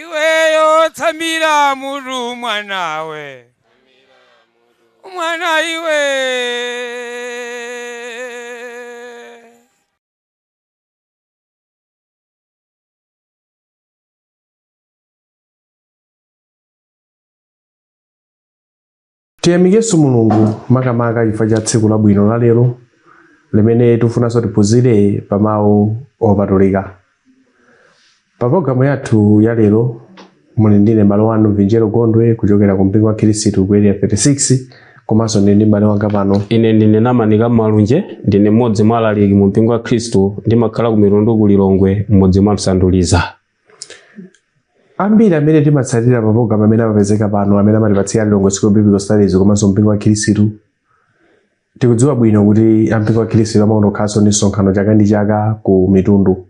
iweyo tamira Mulungu mwanawe mwana iwe Tiyamikenso Mulungu makamaka chifukwa cha tsiku labwino la lero limene tifunanso tiphunzire pa mawu opatulika. Pa pologalamu yathu ya lero muli ndine mbale wanu Vinjero Gondwe kuchokera ku mpingo wa Khristu ku area 36 komanso ndili ndi mbale wanga pano ine ndine namanika malunje ndine mmodzi mwa alaliki mu mpingo wa khristu ndimakhala ku mitundu ku lilongwe mmudzi mwa msanduliza ambiri amene timatsatira maprogram amene amapezeka pano amene amatipatsira lilongwe school of biblical studies komanso mpingo wa khirisitu tikudziwa bwino kuti ampingo wa khirisitu amaonanso kukhala ndi msonkhano chaka ndi chaka ku mitundu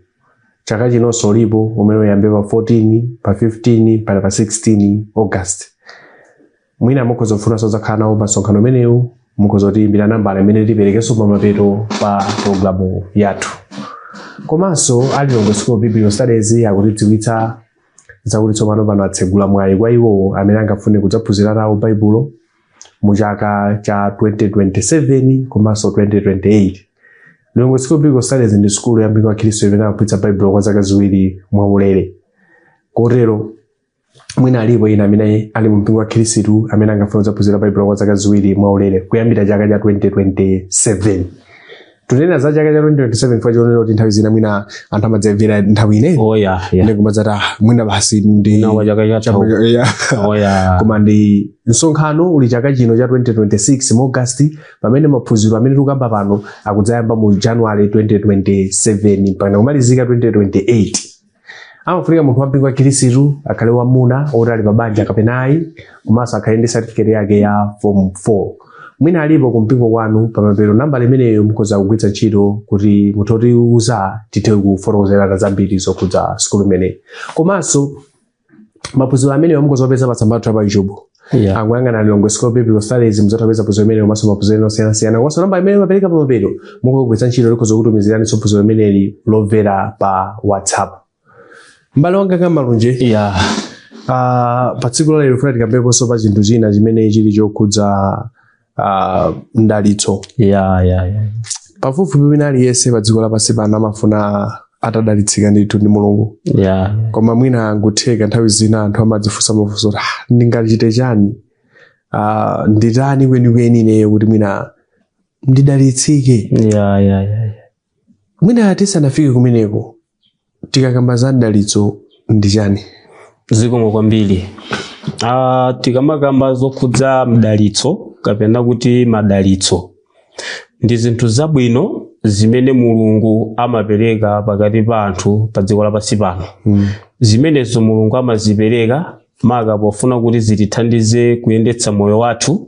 chaka chinonso ulipo umene uyambe pa 14 pa 15 mpaka pa 16 august mwina mukhoza kufunanso kudzakhala nawo pa msonkhano umenewu mukhoza kutiyimbira nambala imene tiperekenso pamapeto pa programu yathu komanso a Lilongwe School of Biblical Studies akutidziwitsa zakuti tsopano pano atsegula mwayi kwa iwo amene angafune kudzaphunzira nawo baibulo mu chaka cha 2027 komanso 2028 Lilongwe School of Biblical Studies ndi sukulu ya mpingo wa khristu imene amaphunzitsa baibulo kwa zaka ziwiri mwaulere kotero mwina alipo ena amene ali mu mpingo wa khirisitu amene angafune kudzaphunzira baibulo kwa zaka ziwiri mwaulere kuyambira chaka cha 2027 tunena za chaka cha 2027 kwa chionera kuti nthawi zina mwina anthu amadzamvera nthawi ina oh ya ya ndi kumadzati "Ah, mwina basi ndi na kwa chaka cha tau Yeah. oh ya koma ndi msonkhano uli chaka chino cha 2026 mu august pamene maphunziro amene tikukamba pano akudzayamba mu january 2027 mpaka kumalizika 2028 amafunika munthu wa mpingo wa khirisitu akhale wamwamuna woti ali pabanja kapena ayi komanso akhale ndi certificate yake ya form 4 mwina alipo kumpingo kwanu pamapeto nambala imeneyo mukhoza kugwiritsa ntchito kuti mutha kutiuza tithe kufotokozerana zambiri zokhudza sukulu imeneyi komanso maphunziro amenewo mukhoza kupeza pa tsamba lathu la pa youtube yeah. mukayang'ana Lilongwe School of Biblical Studies mudzatha kupeza phunziro limeneli komanso maphunziro ena osiyanasiyana komanso nambala imene timapereka pa mapeto mukhoza kugwiritsa ntchito tikhoza kukutumiziraninso phunziro limeneli lomvera pa whatsapp mbale wanga a Malunje yeah. uh, pa tsiku la lero funa tikambeponso pa chinthu china chimene chili chokhudza ah, mdalitso ya ya ya pafupifupi wina aliyense pa dziko lapansi pano amafuna atadalitsika ndithu ndi mulungu ya koma mwina zingatheke nthawi zina anthu amadzifunsa mafunso kuti "Ah, ndingachite chani Ah, nditani kwenikweni ineyo kuti mwina ndidalitsike ya ya ya ya. mwina tisanafike kumeneko tikakamba za mdalitso ndi chani zikomo kwambiri uh, tikamakamba zokhudza mdalitso kapena kuti madalitso ndi zinthu zabwino zimene mulungu amapereka pakati pa anthu pa dziko lapansi pano mm. zimenezo mulungu amazipereka maka pofuna kuti zitithandize kuyendetsa moyo wathu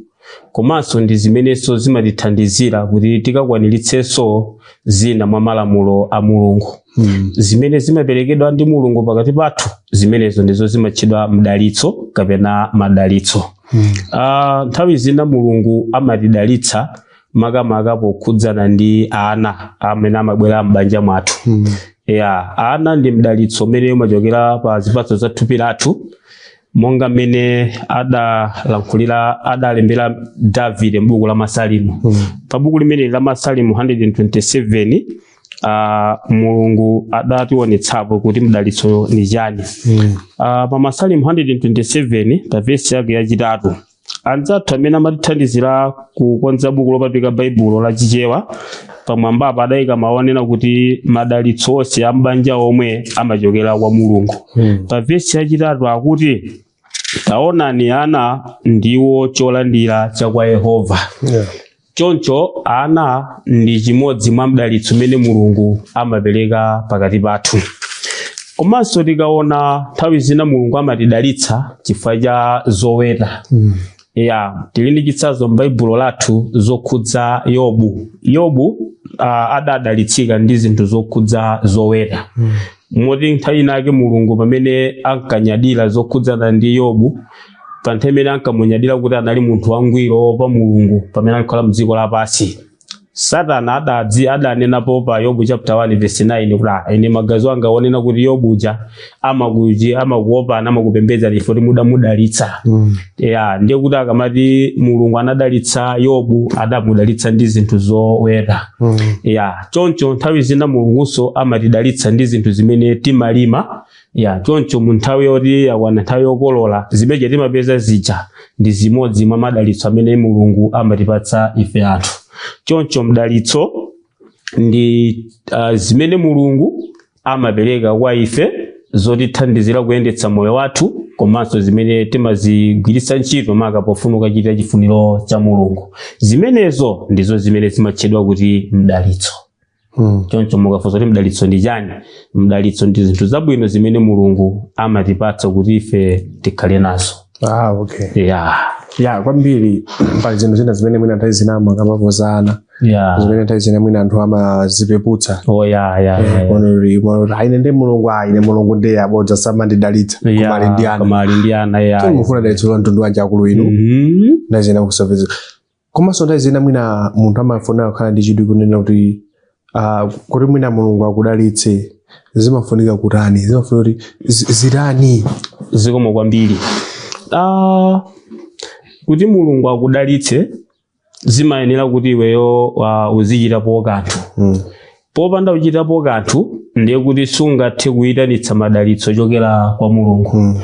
komanso ndi zimenenso zimatithandizira kuti tikakwaniritsenso zina mwa malamulo a mulungu Mm. zimene zimaperekedwa ndi mulungu pakati pathu zimenezo ndizo zimatchedwa mdalitso kapena madalitso Mm. Ah, nthawi zina mulungu amatidalitsa makamaka pokhudzana ndi ana amene amabwera m'banja mwathu Mm. ya ana ndi mdalitso umene umachokera pa zipatso za thupi lathu monga mmene adalankhulira adalembera davide m'buku la masalimu Mm. pa buku limeneli la masalimu 127 uh, mulungu adationetsapo kuti mdalitso ndi chani Mm. uh, pa masalimu 127 pa vesi yake yachitatu Anzathu amene amatithandizira kukonza buku lopatulika Baibulo la Chichewa pamwambapa adayika mawu onena kuti madalitso onse a m'banja omwe amachokera kwa Mulungu. Pa vesi yachitatu akuti taonani ana ndiwo cholandira cha kwa Yehova. Yeah. Choncho ana ndi chimodzi mwa mdalitso umene Mulungu amapereka pakati pathu. Komanso tikaona nthawi zina Mulungu amatidalitsa chifukwa cha zoweta. Mm. Ya, tili ndi chitsanzo m'Baibulo lathu zokhudza Yobu. Yobu uh, adadalitsika ndi zinthu zokhudza zoweta. Mm. Moti nthawi inake Mulungu pamene ankanyadira zokhudzana ndi Yobu pa nthawi imene ankamunyadira kuti adali munthu wangwiro woopa mulungu pamene ankakhala mdziko lapansi satana adadzi adanenapo pa yobu chapter 1 verse 9 kuti "Ah, ine maganizo anga ndimaona kuti yobu uja amakuji amakuopani amakupembedzani chifukwa choti mudamudalitsa Mm. ya ndiye kuti akamati mulungu anadalitsa yobu adamudalitsa ndi zinthu zoweta Mm. ya choncho nthawi zina mulungunso amatidalitsa ndi zinthu zimene timalima ya choncho mu nthawi yoti yakwana nthawi yokolola zimene timapeza zija ndi zimodzi mwa madalitso amene mulungu amatipatsa ife anthu choncho mdalitso ndi uh, zimene mulungu amapereka kwa ife zotithandizira kuyendetsa moyo wathu komanso zimene timazigwiritsa ntchito maka pofuna kukachita chifuniro cha mulungu zimenezo ndizo zimene zimatchedwa kuti mdalitso Mm. choncho mukafunsa kuti mdalitso ndi chani mdalitso ndi zinthu zabwino zimene mulungu amatipatsa kuti ife tikhale nazo Ah, okay. ya ya kwambiri pali zinthu zina zimene mwina nthawi zina amakambapo za ana ya zimene nthawi zina mwina anthu amazipeputsa oh ya ya ya, ya. Onori, onori, aine ndi mulungu aine mulungu ndiye abodza samandidalitsa Ya, koma ali ndi ana koma ali ndi ana ya Tsono mufuna dalitso la mtundu wanji akulu inu Mhm. nthawi zina kusapeza komanso nthawi zina mwina munthu amafuna kukhala ndi chidwi kunena kuti ah, kuti mwina mulungu akudalitse zimafunika kutani zimafunika kuti zi- zitani zikomo kwambiri ah, kuti mulungu akudalitse zimayenera kuti iweyo uh, uzichitapo kanthu Mm. popanda kuchitapo kanthu ndiye kuti sungathe kuyitanitsa madalitso ochokera kwa mulungu Mm.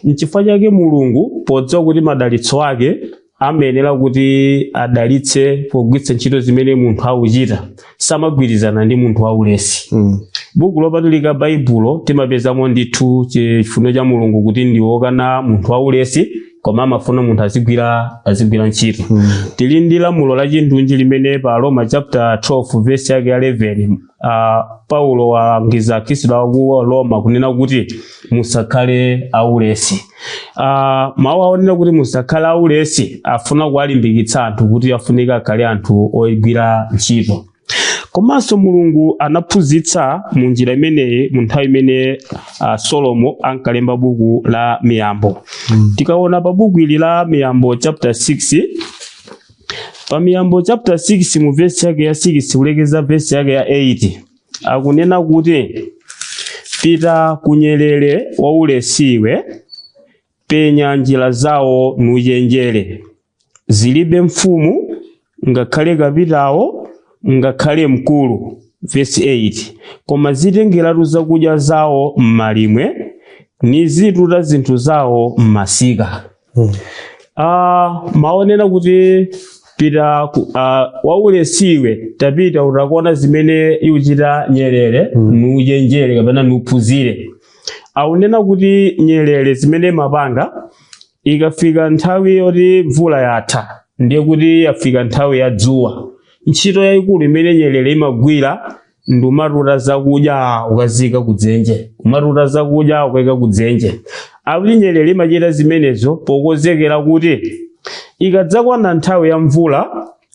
nchifukwa chake mulungu podziwa kuti madalitso ake amayenera kuti adalitse pogwiritsa ntchito zimene munthu akuchita samagwirizana ndi munthu waulesi Mm. buku lopatulika baibulo timapezamo ndithu chi- chifuno cha mulungu kuti ndiwokana munthu waulesi koma amafuna munthu azigwira azigwira ntchito Mm. tili ndi lamulo la chindunji limene pa Aroma chapter 12 verse yake ya 11 uh, Paulo akulangiza Akhristu a ku Roma kunena kuti musakhale aulesi. Uh, mawu onena kuti musakhale aulesi afuna kuwalimbikitsa anthu kuti afunika akhale anthu ogwira ntchito. Komanso Mulungu anaphunzitsa mu njira imeneyi mu nthawi imene uh, Solomo ankalemba buku la Miyambo. Mm. Tikaona pa buku ili la Miyambo chapter 6 Pa Miyambo chapter 6 mu verse yake ya 6 kulekeza verse yake ya 8 akunena kuti pita kunyerere waulesiwe penya njira zawo nuchenjere zilibe mfumu ngakhale kapitawo ngakhale mkulu verse 8 koma zitengeratu zakudya zawo m'malimwe nizituta zinthu zawo m'masika Ah, mawu onena kuti pita ku- ah, waulesiwe tapita ukaone zimene ikuchita nyerere nuchenjere kapena nuphunzire akunena kuti nyerere zimene imapanga ikafika nthawi yoti mvula yatha ndiye kuti yafika nthawi ya dzuwa ntchito yayikulu imene nyerere imagwira ndi kumatuta zakudya kukaika kudzenje kumatuta zakudya kukaika kudzenje akuti nyerere imachita zimenezo pokonzekera kuti ikadzakwana nthawi ya mvula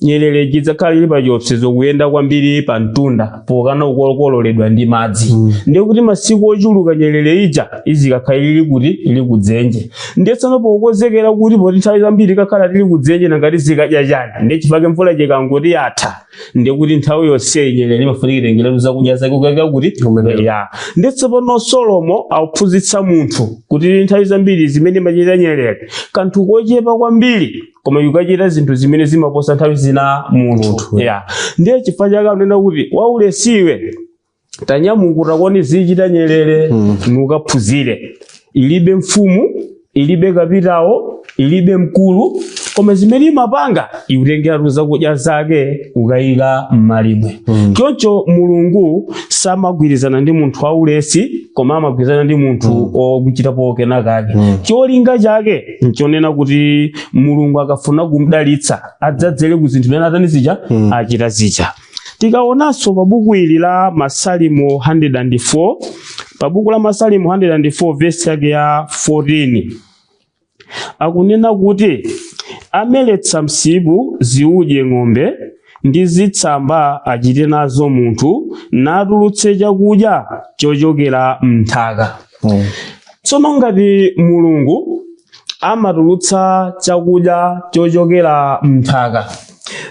nyerere idzakhala ili pa chiopsezo kuyenda kwambiri pa mtunda pokana kukokoledwa ndi madzi mm. ndiye kuti masiku ochuluka nyerere ija izikakhala ili kuti ili kudzenje ndiye tsano pokonzekera kuti poti nthawi zambiri tikakhala tili kudzenje nanga tizikadya chani ndiye chifukwa chake mvula ikangoti yatha ndiye kuti nthawi yonseyi nyerere imafunika itengeretu zakudya zake kukaika kuti Kumenera. ya ndiye tsopano Solomo akuphunzitsa munthu kuti nthawi zambiri zimene imachita nyerere kanthu kochepa kwambiri koma ikuchita zinthu zimene zimaposa nthawi zina munthu Munthu. ya ndiye chifukwa chake akunena kuti waulesiwe tanyamuka ukaone zichita nyerere mm. nukaphunzire ilibe mfumu ilibe kapitawo ilibe mkulu koma zimene imapanga ikutengeratu zakudya zake kukayika m'malimwe mm. choncho mulungu samagwirizana ndi munthu waulesi koma amagwirizana ndi munthu mm. wochitapo kena kake mm. cholinga chake nchonena kuti mulungu akafuna kumdalitsa adzadzere ku zinthu zimene atani zija mm. achita zija Tikaonanso pa buku ili la Masalimo 104, pa buku la Masalimo 104 vesi yake ya 14 akunena kuti ameretsa msipu ziudye ng'ombe ndi zitsamba achite nazo munthu natulutse chakudya chochokera m'nthaka. Mm. Tsono ngati Mulungu amatulutsa chakudya chochokera m'nthaka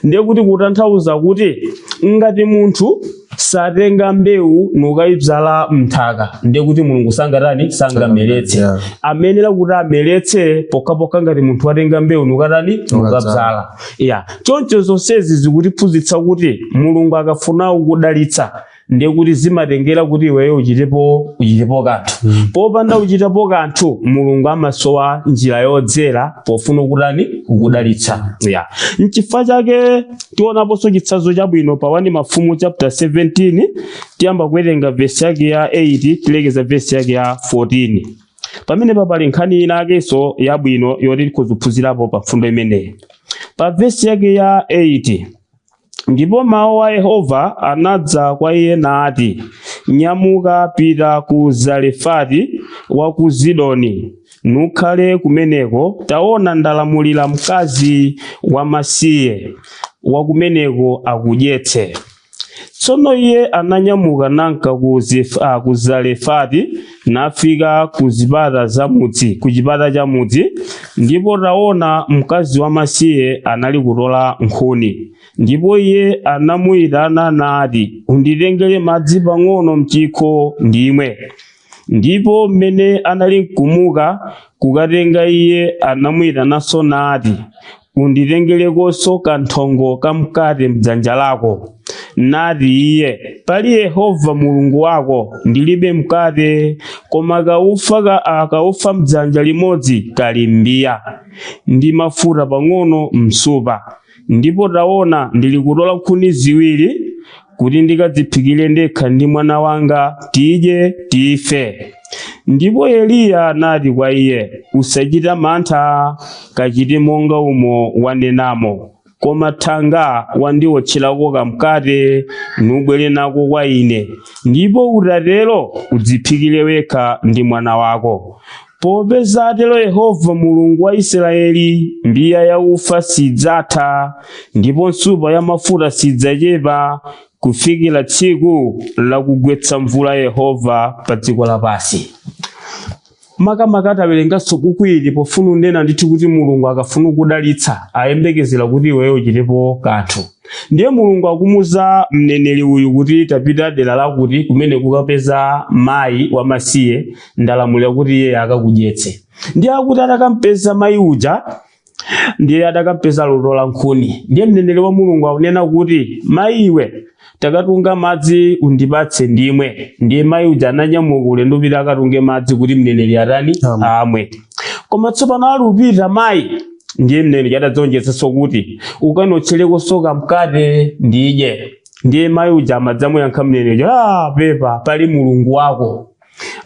ndiye kuti kutanthauza kuti ngati munthu satenga mbewu nukayibzala mnthaka ndiye kuti mulungu sangatani sangameretse Yeah. amenera kuti ameretse pokhapokha ngati munthu watenga mbewu nukatani nukabzala ya choncho zonsezi zikutiphunzitsa kuti mulungu akafuna kukudalitsa ndiye kuti zimatengera kuti iweyo uchitepo uchitepo kanthu mm. popanda kuchitapo kanthu mulungu amasowa njira yodzera pofuna kutani kukudalitsa yeah. nchifukwa chake tionaponso chitsanzo chabwino pa 1 mafumu chapter 17 tiyamba kuwerenga vesi yake ya 8 tilekeza vesi yake ya 14 pamenepa pali nkhani inayakenso yabwino yoti tikuphunzirapo pa mfundo imeneyi pa vesi yake ya 8 Ndipo mau a Yehova anadza kwa iye nati, Nyamuka, pita ku Zarefati wa ku Zidoni, nukhale kumeneko. Taona, ndalamulira mkazi wamasiye wa kumeneko akudyetse. Tsono iye ananyamuka namka ku Zarefati. nafika ku zipata za mudzi ku chipata cha mudzi ndipo taona mkazi wamasiye anali kutola nkhuni ndipo iye anamuyitana nati unditengere madzi pang'ono mchikho ndimwe ndipo mmene anali mkumuka kukatenga iye anamuyitananso nati unditengerekonso kanthongo ka mkate m'dzanja lako. Nati iye, Pali Yehova Mulungu wako, ndilibe mkate, koma kaufa ka a, kaufa m'dzanja limodzi kali m'mbiya, ndi mafuta pang'ono m'nsupa. Ndipo taona, ndilikutola nkhuni ziwiri, kuti ndikadziphikire ndekha ndi mwana wanga tidye tife ndipo eliya anati kwa iye usachita mantha kachite monga umo wanenamo koma thanga wandiwotcherako kamkate nubwere nako kwa ine ndipo utatero udziphikire wekha ndi mwana wako Popeza atero Yehova Mulungu wa Israyeli, mbiya ya ufa sidzatha, ndipo nsupa ya mafuta sidzacepa, kufikira tsiku lakugwetsa mvula Yehova pa dziko lapansi. makamaka atawerenganso buku ili pofuna unena ndithu kuti mulungu akafuna kudalitsa ayembekezera kuti iweyo uchitepo kanthu ndiye mulungu akumuza mneneri uyu kuti tapita dera lakuti kumene kukapeza mayi wamasiye ndalamulira kuti iye akakudyetse ndiye akuti atakampeza mayi uja ndiye atakampeza akutola nkhuni ndiye mneneri wa mulungu akunena kuti mayi iwe takatunga madzi undipatse ndimwe ndiye mayi uja ananyamuka ulendo upita akatunge madzi kuti mneneri atani Amwe. amwe koma tsopano ali upita mayi ndiye mneneri adadzonjetsanso kuti ukandiotcherekonso kamkate ndidye ndiye mayi uja amadzamuyankha mneneri ah pepa pali mulungu wako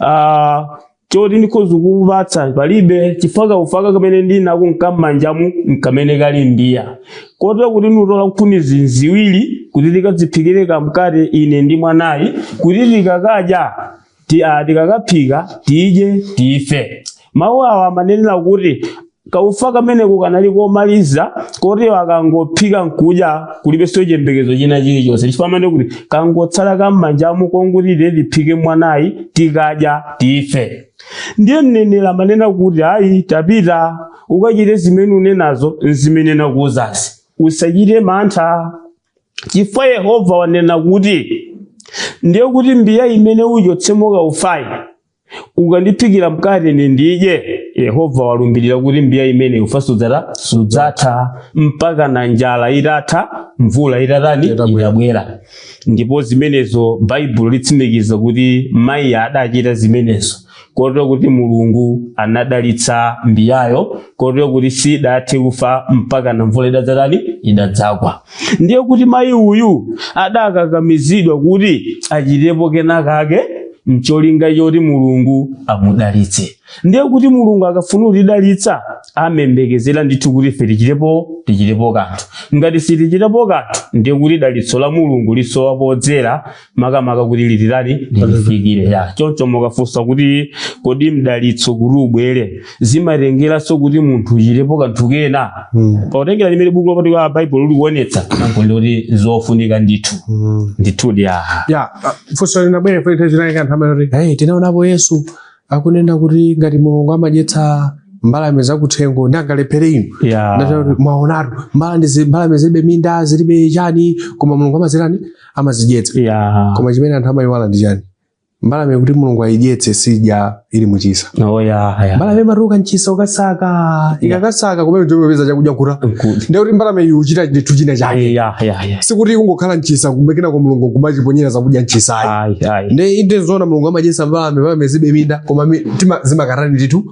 Ah, choti ndikhoza kukupatsa palibe chifukwa kaufaka kamene ndinako nkam'manjamu nkamene kali m'mbiya kotero kuti ndikutola nkhuni ziwiri kuti tikadziphikire kamkate ine ndi mwanayi kuti tikakadya ti- ah, tikakaphika tidye tife mawu awa amanenera kuti Kaufa kameneko kanali komaliza koti akangophika nkudya kulibenso chiyembekezo china chilichonse chifukwa amene kuti kangotsala kam'manjamu kongoti tiphike mwanayi tikadya tife ndiye mneneri amanena kuti ayi tapita ukachite zimene unenazo zimene nakuuzazi usachite mantha chifukwa yehova wanena kuti ndiye kuti mbiya imene uchotsemo kaufayi ukandiphikira mkate ine ndidye yehova walumbirira kuti mbiya imene ufa sudzatha mpaka na njala itatha mvula itatani Itabwera. itabwera ndipo zimenezo baibulo litsimikiza kuti mayi adachita zimenezo kotero kuti mulungu anadalitsa mbiyayo kotero kuti sidathe ufa mpaka na mvula idadzatani idadzagwa ndiye kuti mayi uyu adakakamizidwa kuti achitepo kena kake mcholinga choti mulungu amudalitse ndiye kuti mulungu akafuna kutidalitsa amayembekezera ndithu kuti ife tichitepo tichitepo kanthu ngati sitichitepo kanthu ndiye kuti dalitso la mulungu lisowa podzera makamaka kuti liti litifikire ya choncho mukafunsa kuti kodi mdalitso kuti ubwere zimatengeranso kuti munthu uchitepo kanthu kena Mm. potengera limene buku lopatulika baibulo likuonetsa n'kuti zofunika ndithu Mm. ndithudi aha ya ah, funso linabwera pali nthawi zinali kanthu amene kuti hey, tinaonapo yesu akunena kuti ngati mulungu amadyetsa mbalame zakuthengo ndiye angalephere inu Yeah. Ndachita kuti mwaonatu mbalame zi- mbalame zilibe minda zilibe chani koma mulungu amazitani amazidyetsa Yeah. koma chimene anthu amayiwala ndi chani mbalame kuti mulungu ayidyetse sidya ili muchisa Oh, yeah, yeah. mbalame imatuluka mchisa kukasaka ikakasaka kumene ndiyopeza chakudya nkukhuta Good. ndekuti mbalame iyi ikuchita ndithu china chake Yeah, yeah. sikuti kungokhala mchisa kumayembekeza kuti mulungu kumayiponyera zakudya mchisa ayi nde inde zoona mulungu amadyetsa mbalame mbalame zilibe minda koma tima zimakatani ndithu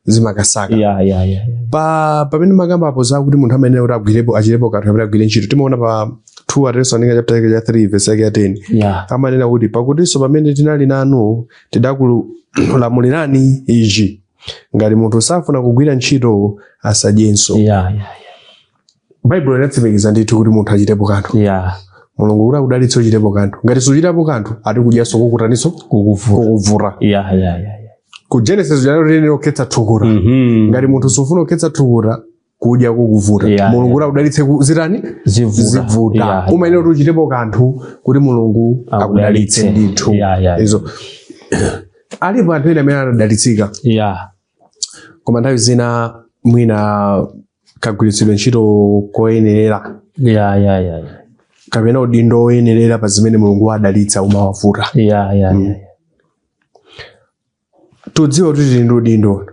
zimakasaka yeah, yeah, yeah. pa pamene mwakamba apo zakuti munthu amayenera kuti agwirepo achitepo kanthu kapena agwire ntchito timaona pa 2 atesalonika chapter chake cha 3 verse yake ya 10 yeah. amanena kuti pakutinso pamene tinali nanu tidakulamulirani ichi ngati munthu safuna kugwira ntchito asadyenso yeah, yeah, yeah. baibulo linatsimikiza ndithu kuti munthu achitepo kanthu yeah. mulungu kuti akudalitse uchitepo kanthu ngati suchitapo kanthu ati kudyanso kukutaninso kukuvuta yeah, yeah, yeah, yeah. ku genesis ananena zokhetsa thukuta mm -hmm. ngati munthu sufuna kukhetsa thukuta kudya kukuvuta yeah, mulungu kuti yeah. akudalitse zitani zivuta yeah, yeah. umayenera kuti uchitepo kanthu kuti mulungu akudalitse ndithu yeah, yeah. izo alipo anthu ena amene anadalitsika yeah. koma nthawi zina mwina kagwiritsidwe ntchito koyenerera ya ya ya ya kapena udindo woyenerera pa zimene mulungu wawadalitsa umawavuta ya ya ya tikudziwa kuti tili ndi udindo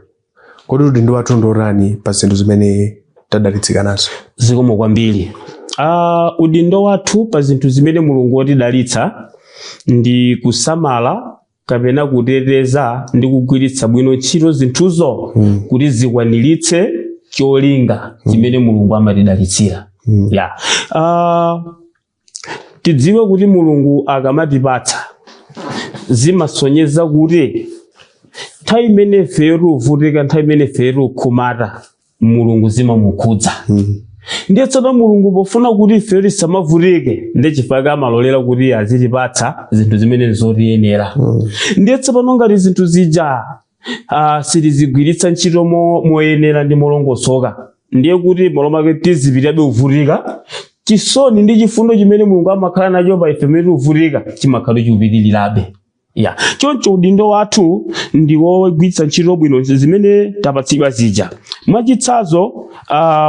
kodi udindo wathu ndi wotani pa zinthu zimene tadalitsika nazo zikomo kwambiri ah udindo wathu pa zinthu zimene mulungu watidalitsa ndi kusamala kapena kuteteza ndi kugwiritsa bwino ntchito zinthuzo mm. kuti zikwaniritse cholinga mm. chimene mulungu amatidalitsira mm. yeah. uh, tidziwe kuti mulungu akamatipatsa zimasonyeza kuti nthawi imene ifeyo tikuvutika nthawi imene ifeyo tikukhumbata mulungu zimamukhudza mm. ndiye tsopano mulungu pofuna kuti ifeyo tisamavutike ndiye chifukwa amalolera kuti azitipatsa zinthu zimene nzotiyenera mm. ndiye tsopano ngati zinthu zija uh, sitizigwiritsa ntchito moyenera ndi molongosoka ndiye kuti mmalo mwake tizipitabe kuvutika chisoni ndi chifundo chimene mulungu amakhala nacho pa ife mmene tivutika chimakhala chikupitirirabe ya choncho udindo wathu ndi wogwiritsa ntchito bwino zimene tapatsidwa zija mwachitsanzo uh,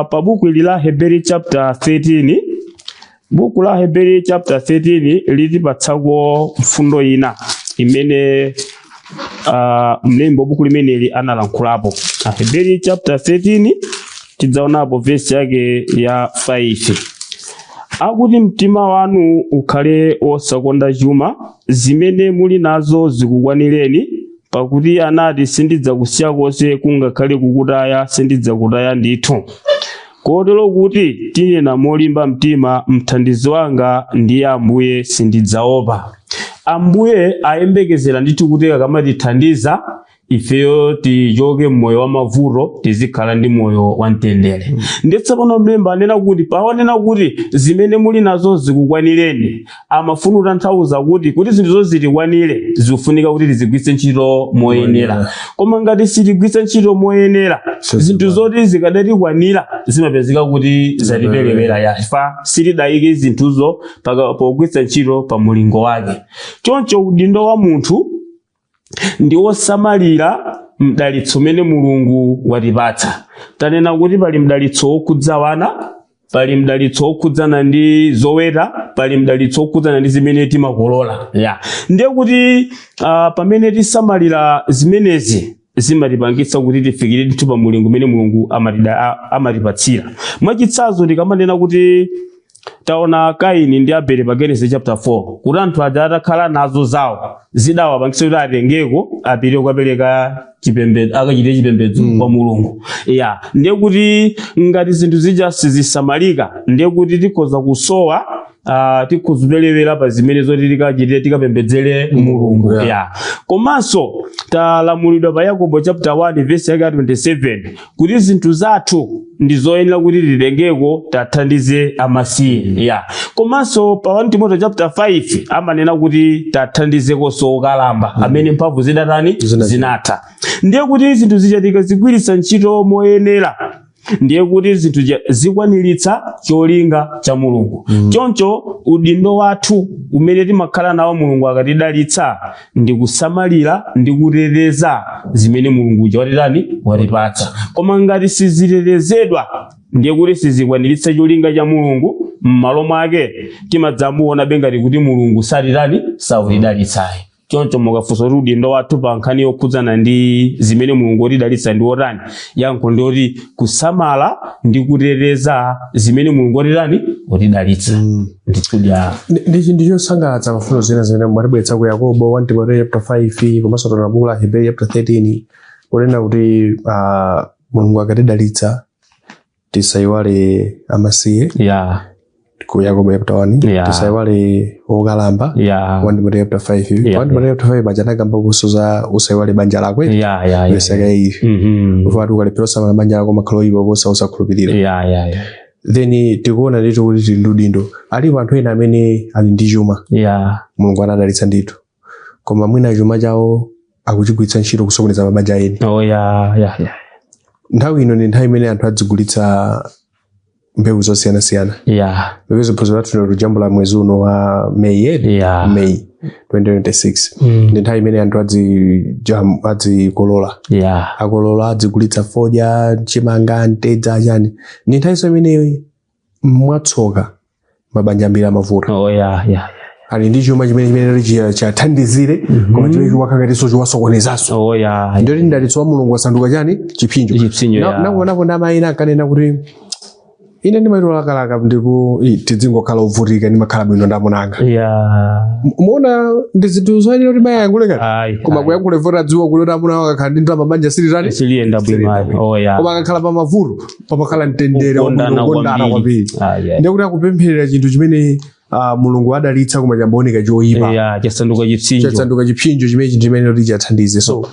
pa buku ili la aheberi chapter 13 buku la aheberi chapter 13 litipatsako mfundo ina imene uh, mlembi wa buku limeneli analankhulapo aheberi chapter 13 tidzaonapo vesi yake ya 5 akuti mtima wanu ukhale wosakonda chuma zimene muli nazo zikukwanireni pakuti anati sindidzakusiya konse kungakhale kukutaya sindidzakutaya ndithu kotero kuti tinena molimba mtima mthandizi wanga ndiye ambuye sindidzaopa ambuye ayembekezera ndithu kuti akamatithandiza ifeyo tichoke mmoyo wa mavuto tizikhala ndi moyo wa mtendere mm. ndiye tsopano mlembi anena kuti pawonena kuti zimene muli nazo zikukwanireni amafuna kutanthauza kuti kuti zinthuzo zitikwanire zikufunika kuti tizigwiritse ntchito moyenera koma ngati sitigwiritsa ntchito moyenera zinthu zoti zikadatikwanira zimapezeka kuti zatiperewera chifukwa sitidayike zinthuzo pogwiritsa ntchito pa mulingo wake choncho udindo wa munthu ndi wosamalira mdalitso umene mulungu watipatsa tanena kuti pali mdalitso wokhudza wana pali mdalitso wokhudzana ndi zoweta pali mdalitso wokhudzana ndi zimene timakolola ya ndiye kuti uh, pamene tisamalira zimenezi zimatipangitsa kuti tifikire ndithu pa mulingo umene mulungu amatida- a- amatipatsira mwachitsanzo tikamanena kuti taona kaini ndi abele pa genesis chapter 4 kuti anthu aja atakhala nazo zawo zidawapangitsa kuti atengeko apite kukapereka chipembedzo akachite chipembedzo kwa mulungu ya ndiye kuti ngati zinthu zija sizisamalika ndiye kuti tikhoza kusowa Uh, tikhoza kupelewera pa zimene zoti tikachite tikapembedzere mulungu yeah. ya komanso talamulidwa pa yakobo chapter 1 verse yake ya 27 kuti zinthu zathu ndi zoyenera kuti titengeko tathandize amasiye ya komanso pa 1 timoto chapter 5 amanena kuti tathandizekonso okalamba amene mphamvu zidatani Zinatha. zinatha ndiye kuti zinthu zija tikazigwiritsa ntchito moyenera ndiye kuti zinthu zija zikwaniritsa cholinga cha mulungu choncho udindo wathu umene timakhala nawo mulungu akatidalitsa ndi kusamalira ndi kuteteza zimene mulungu uja watitani watipatsa koma ngati sizitetezedwa ndiye kuti sizikwaniritsa cholinga cha mulungu m'malo mwake timadzamuonabe ngati kuti mulungu satitani satidalitsayi choncho mukafunsa kuti udindo wathu pa nkhani yokhudzana ndi zimene mulungu watidalitsa ndi otani yankho ndi loti kusamala ndi kuteteza zimene mulungu watitani watidalitsa mm. ndikuti ndi chinthu chosangalatsa mfundo zina zimene mwatibweretsa ku yakobo 1 timoteo chapter 5 komanso tona buku la hebrew chapter 13 kunena kuti uh, mulungu akatidalitsa tisaiwale amasiye ya ku yakobo chapter 1 Yeah. tisaiwale okalamba ya 1 Timoteo chapter 5 Yeah. 1 Timoteo chapter 5 paja anakamba kuti zoti usaiwale banja lako eh? ya ya ya yesaka ife Mhm. amati ukalephera kusamala banja lako umakhala oyipa kuposa osakhulupirira ya ya ya then tikuona ndithu kuti tili ndi udindo alipo anthu ena amene ali ndi chuma ya mulungu anawadalitsa ndithu koma mwina chuma chawo akuchigwiritsa ntchito kusokoneza mabanja a eni oh yeah yeah yeah nthawi ino ndi nthawi imene anthu adzigulitsa mbewu zosiyanasiyana yeah popeza phunziro lathu lero tikujambula mwezi uno wa meyi edi yeah meyi 2026 mm. ndi nthawi imene anthu adzijam- adzikolola yeah akolola adzigulitsa fodya chimanga mtedza chani ndi nthawi so imene mwatsoka mabanja ambiri amavuta oh, yeah, yeah. ali ndi chuma chimene chimene chi- chathandizire koma chimene chimakhala ngatinso chiwasokonezanso Oh, yeah. ndiye kuti mdalitso wa mulungu wasanduka chani chipsinjo Chipsinjo, Na- yeah. nakuonapo ndi amayi ena ankanena kuti ine ndimachita kulakalaka kuti "Ih, tidzingokhala ovutika ndimakhala bwino ndi amuna anga Yeah. muona si zinthu zoyenera kuti mayi ayankhule kale Ayi, koma ayi. kuyankhula poti adziwa kuti amuna akakhala ndi ndalama banja silitani Siliyenda bwino ayi. Oh, yeah. koma akakhala pa mavuto pamakhala mtendere Kukondana wokondana kwambiri. kwambiri Ah, yeah. ndekuti akupempherera chinthu chimene ah, mulungu wadalitsa koma chayamba kuoneka choyipa Yeah, chasanduka chipsinjo chasanduka chipsinjo chimenechi ndi chimene kuti chathandize so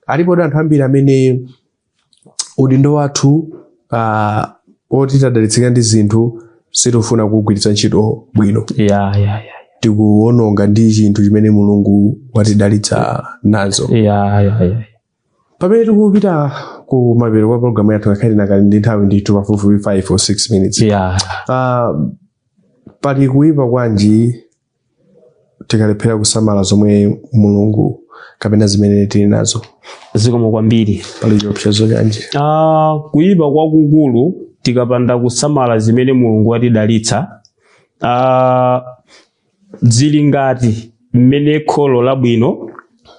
alipodi anthu ambiri amene udindo wathu ah, woti tadalitsika ndi zinthu sitikufuna kugwiritsa ntchito bwino Yeah, yeah, yeah. tikuononga ndi chinthu chimene mulungu watidalitsa nazo Yeah, yeah, yeah. pamene tikupita ku mapeto kwa programu yathu ngakhale tinakali ndi nthawi ndithu pafupifupi 5 or 6 minutes yeah. Ah, pali kuyipa kwanji tikalephera kusamala zomwe mulungu kapena zimene tili nazo zikomo kwambiri pali chiopsezo chanji Ah, kuyipa kwakukulu tikapanda kusamala zimene mulungu watidalitsa ah, Zili ngati mmene kholo labwino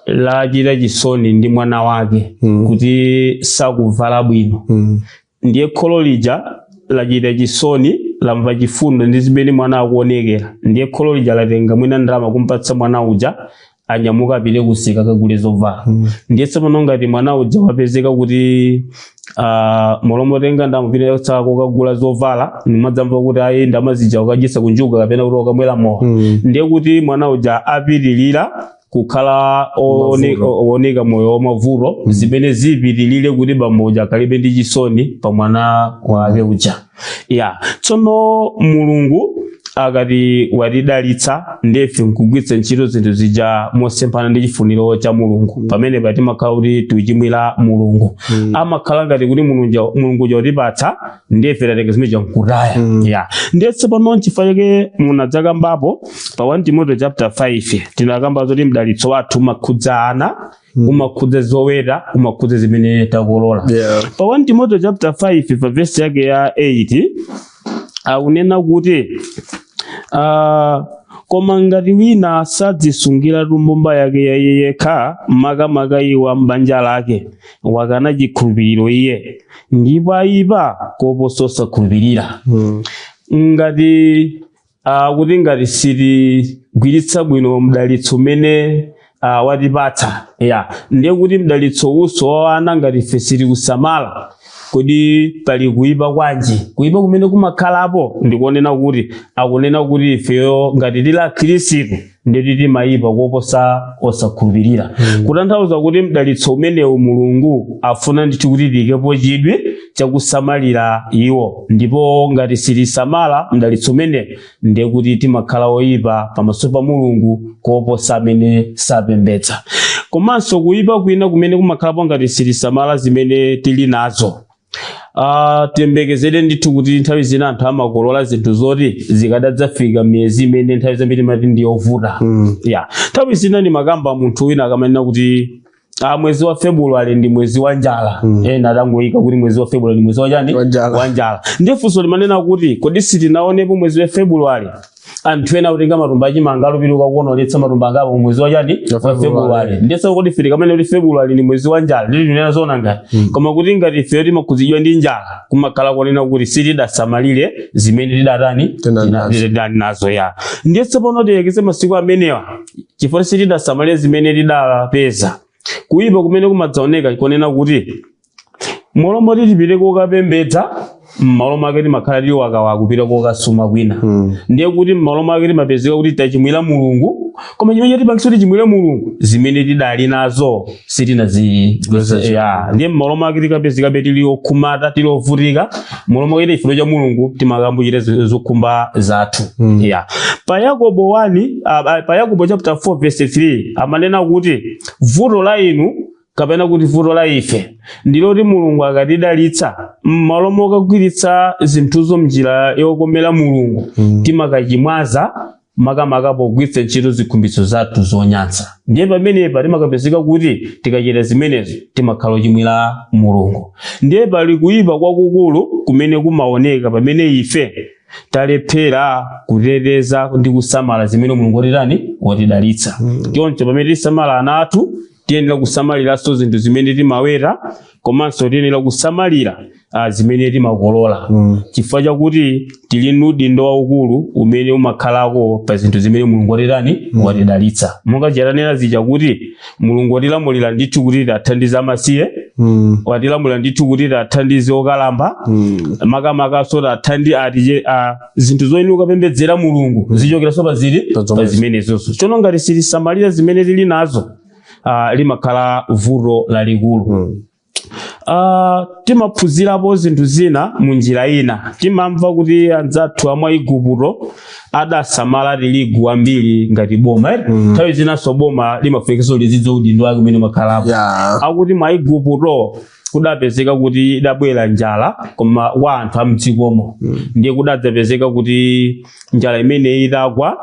lachita chisoni ndi mwana wake kuti sakuvala bwino. Ndiye kholo lija lachita chisoni, lamva chifundo ndi zimene mwana akuonekera. Ndiye kholo lija latenga mwina ndalama kumpatsa mwana uja, anyamuka apite kumsika akagule zovala ndiye tsopano ngati mwana uja wapezeka kuti ah, m'malo motenga ndalama kupita nazo kokagula zovala timadzamva kuti ayi ndalama zija akudyetsa kunjuga kapena kuti akamwera mowa Mm. ndiye kuti mwana uja apitirira kukhala oone- Mavuto. ooneka moyo wamavuto zimene zipitirire kuti bambo uja akalibe ndi chisoni pa mwana wake uja ya tsono mulungu akati watidalitsa ndiye ife nkugwiritsa ntchito zinthu zija mosemphana ndi chifuniro cha mulungu pamenepa timakhala kuti tichimwira mulungu Mm. zimakhala ngati kuti mulungu mulungu watipatsa ndiye ife tatenga zimene zija nkutaya Mm. ya ndiye tsopano nchifukwa chake ndinadzakambapo pa 1 timoteo chapter 5 tinakamba zoti mdalitso wathu umakhudza ana Mm. umakhudza zoweta umakhudza zimene takolola Yeah. pa 1 timoteo chapter 5 pa vesi yake ya 8 akunena kuti ah, koma ngati wina sadzisungiratu mbumba yake ya iye yekha makamaka iwo ambanja lake wakana chikhulupiriro iye ndipo ayipa koposa osakhulupirira Mm. ngati uh, kuti ngati sitigwiritsa bwino mdalitso umene uh, watipatsa yeah. ndiye kuti mdalitso uwuwo wa ana ngati ife sitili kusamala kodi pali kuyipa kwanji kuyipa kumene kumakhalapo ndikonena kuti akunena kuti ifeyo ngati tili akhristu nde kuti timayipa koposa osakhulupirira kutanthauza kuti mdalitso umenewu mulungu afuna ndithu kuti tiyikepo chidwi chakusamalira iwo ndipo ngati sitisamala mdalitso umenewo ndiye kuti timakhala oyipa pamaso pa mulungu koposa amene sapembedza komanso kuyipa kwina kumene kumakhalapo ngati sitisamala zimene tili nazo Ah, tiyembekezere ndithu kuti nthawi zina anthu amakolola zinthu zoti zikadadzafika m'miyezi imene nthawi zambiri timati ndi yovuta Mm. ya nthawi zina ndimakamba munthu wina akamanena kuti ah, mwezi wa february ndi mwezi wa njala mm. ena adangoyika kuti mwezi wa february ndi mwezi wa chani Wa njala. wa njala ndiye funso ndimanena kuti kodi sitinaonepo mwezi wa february anthu ena akutenga matumba achimanga ali piliu kukakonoletsa matumba angapo mu mwezi wachani Wa wa February. february nde sikuti ife tikamanena kuti february ni mwezi wa njala nde kuti tinena zona kapena Mm. koma kuti ngati ifeyo timakhudzidwa ndi njala kumakhala konena kuti sitidasamalire zimene tidatani Tina tina- nazo. tidali nazo ya ndiye tsopano tiyekeze masiku amenewa chifukwa sitidasamalire zimene tidapeza kuyipa kumene kumadzaoneka nkonena kuti M'malo moti tipite kokapembedza mmalo mwake timakhala tili wakawa kupita kokasuma kwina mm. ndiye kuti mmalo mwake timapezeka kuti tachimwira mulungu koma chimene chatipangisa kuti tichimwire mulungu zimene tidali nazo sitinazi- ya ndiye mmalo mwake tikapezekabe tili okhumudwa tili ovutika mmalo mwake ite chifuniro cha mulungu timakayamba kuchita zi- zokhumba zathu mm. ya pa yakobo 1 uh, pa yakobo chapter 4 verse 3 amanena kuti vuto la inu kapena kuti vuto la ife ndiloti mulungu akatidalitsa m'malo mokagwiritsa zinthuzo mnjira yokomera mulungu Mm. timakachimwaza makamaka pogwiritsa ntchito zikhumbitso zathu zonyansa ndiye pamenepa timakapezeka kuti tikachita zimenezo timakhala ochimwira mulungu ndiye pali kuyipa kwakukulu kumene kumaoneka pamene ife talephera kuteteza ndi kusamala zimene mulungu watitani watidalitsa choncho pamene tikusamala ana athu tiyenera kusamaliranso zinthu zimene timaweta komanso tiyenera kusamalira ah, zimene timakolola Mm. chifukwa chakuti tili ndi udindo waukulu umene umakhalako pa zinthu zimene mulungu watitani watidalitsa monga tanenera zija kuti mulungu watilamulira ndithu kuti tithandize amasiye Mm. watilamulira ndithu kuti tithandize okalamba Mm. makamakanso tithandize zinthu zoyenera kupembedzera mulungu zichokeranso pa zi- Pa zomwezo. pa zimenezozo chono ngati sitisamalira zimene tili nazo ah, limakhala vuto lalikulu Ah, timaphunzirapo zinthu zina mu njira ina timamva kuti anzathu amwa igupto adasamala tirigu wambiri ngati boma eh? nthawi zinanso boma limafunikanso lizidziwa udindo wake umene umakhalapo ya akuti mwa igupto kudapezeka kuti idabwera njala koma kwa anthu amdzikomo ndiye kudadzapezeka kuti njala imeneyi idagwa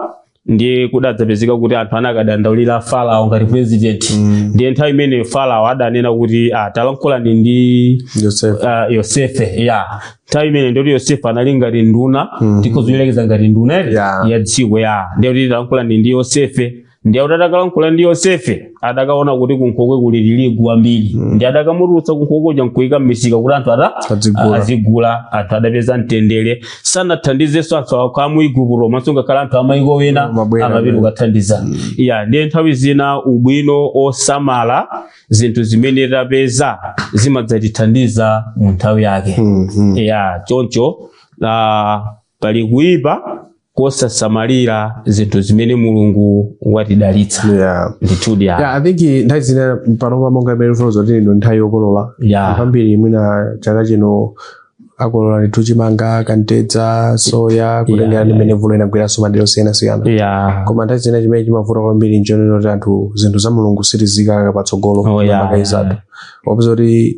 ndiye kudadzapezeka kuti anthu anakadandaulira farao ngati president ndiye nthawi imeneyo farao adanena kuti ah, talankhulani ndi Yosefe. uh, yosefe ya nthawi imene ndi yoti yosefe anali ngati nduna tikhoza kuyerekeza ngati nduna ere Yeah. ya dziko ya ndiye kuti talankhulani ndi yosefe ndiye akuti atakalankhula ndi yosefe adakaona kuti kunkhokwe kuli tirigu wambiri ndiye adakamutulutsa kunkhokwe kuja nkuika m'misika kuti anthu atani Adzigula. azigula anthu adapeza mtendere sanathandizenso anthu okha a mu igupto komanso ngakhale anthu amaiko ena Amabwera, amapita amabwera. kukathandizidwa ya ndiye nthawi zina ubwino osamala zinthu zimene tapeza zimadzatithandiza mu nthawi yake Mm, mm. ya choncho ah, pali kuipa kosasamalira zinthu zimene mulungu watidalitsa yeah. ndithudi ya yeah, i think nthawi zina panopa monga mmene tikufotokoza kuti ino ndi nthawi yokolola yeah. ambiri mwina chaka chino akolola ndithu chimanga kamtedza soya kutengera ndi mmene mvula inagwiranso madera osiyanasiyana yeah. koma nthawi zina chimene chimavuta kwambiri nchonena kuti anthu zinthu za mulungu sitiziika patsogolo Oh, yeah, makaizatu opeza kuti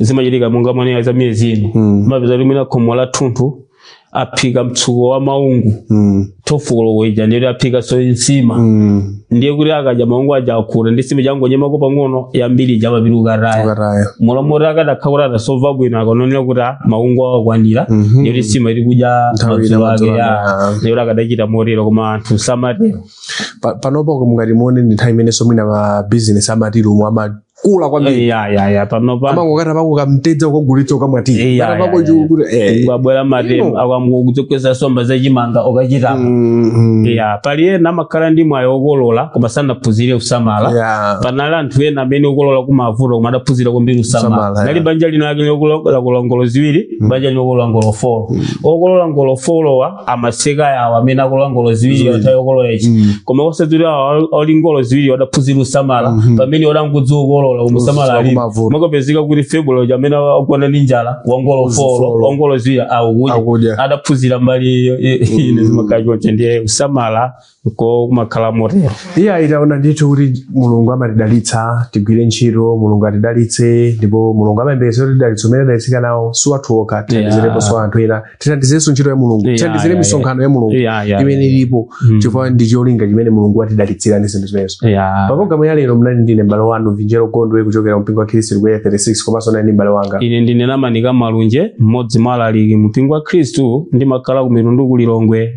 zimachitika monga mwanena za miyezi ino Mm. mapeza kuti mwina khomo lathunthu aphika mtsuko wa maungu Mm. thifolo ija ndiyoti aphikanso nsima Mm. ndiye kuti akadya maungu aja akhuta ndi nsima angonyemako pang'ono yambiri ija mapeto akataya Ukataya. m'malo moti akadakhala kuti adasova bwino akanaonera kuti ah, maungu akwanira Mhm. ndiyoti nsima ili kudya Nthawi ina madzulo ake madzulo ya ake, ah. ndiyoti akadachita motero koma anthu samatero Pa- panopo mungati muone ndi nthawi imenenso mwina ma business amatilumu akula kwambiri ya ya ya panopa amangokata pako kamtedza ukagulitsa ukamwati Eh, ya, kata ya, pako ya, ya. chikuti eh pabwera matemba Ino. akamkugutsa nsomba za chimanga ukachitapa Mm, mm. ya pali ena amakhala ndi mwayi okolola koma sanaphunzire kusamala Yeah. panali anthu ena amene akukolola movuta koma adaphunzira kwambiri kusamala Kusamala, nali yeah. banja lino lake lokolola ngolo ziwiri banja lino okolola ngolo folo okolola ngolo folowa amaseka awo amene akolola ngolo ziwiri Ziwiri. yatha yokolola ichi Mm. koma osati awo oli ngolo ziwiri adaphunzira usamala Mhm. pamene wadangodziwa ukolola koma usamala Usamala alipo kumavuta. amakapezeka kuti February uja amene wagona ndi njala wangolo Wa folo. folo wangolo ziwiri akudya akudya adaphunzira mbali iyo i- ine Mm. zimakhala choncho ndiye usamala nko kumakhala motero ya tikuona ndithu kuti mulungu amatidalitsa tigwire ntchito mulungu atidalitse ndipo mulungu amayembekeza kuti madalitso amene tadalitsika nawo si athu okha titandizireponso anthu ena titandizirenso ntchito ya mulungu Yeah, titandizire yeah, misonkhano ya mulungu Yeah, yeah, imene yeah. ilipo Mm. chifukwa ndi cholinga chimene mulungu watidalitsira ndi zinthu zimenezo Yeah. pa programu ya lero munali ndi ine m'bale wanu vinjero gondwe kuchokera mpingo wa khristu ku Area 36 komanso nali ndi m'bale wanga ine ndine namanika malunje mmodzi mwa alaliki mu mpingo wa khristu ndimakhala ku mitundu ku lilongwe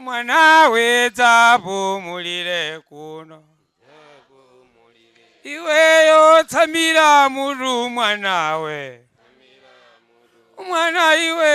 mwanawe dzapumulire kuno iweyo tsamira mutu mwanawe mwana iwe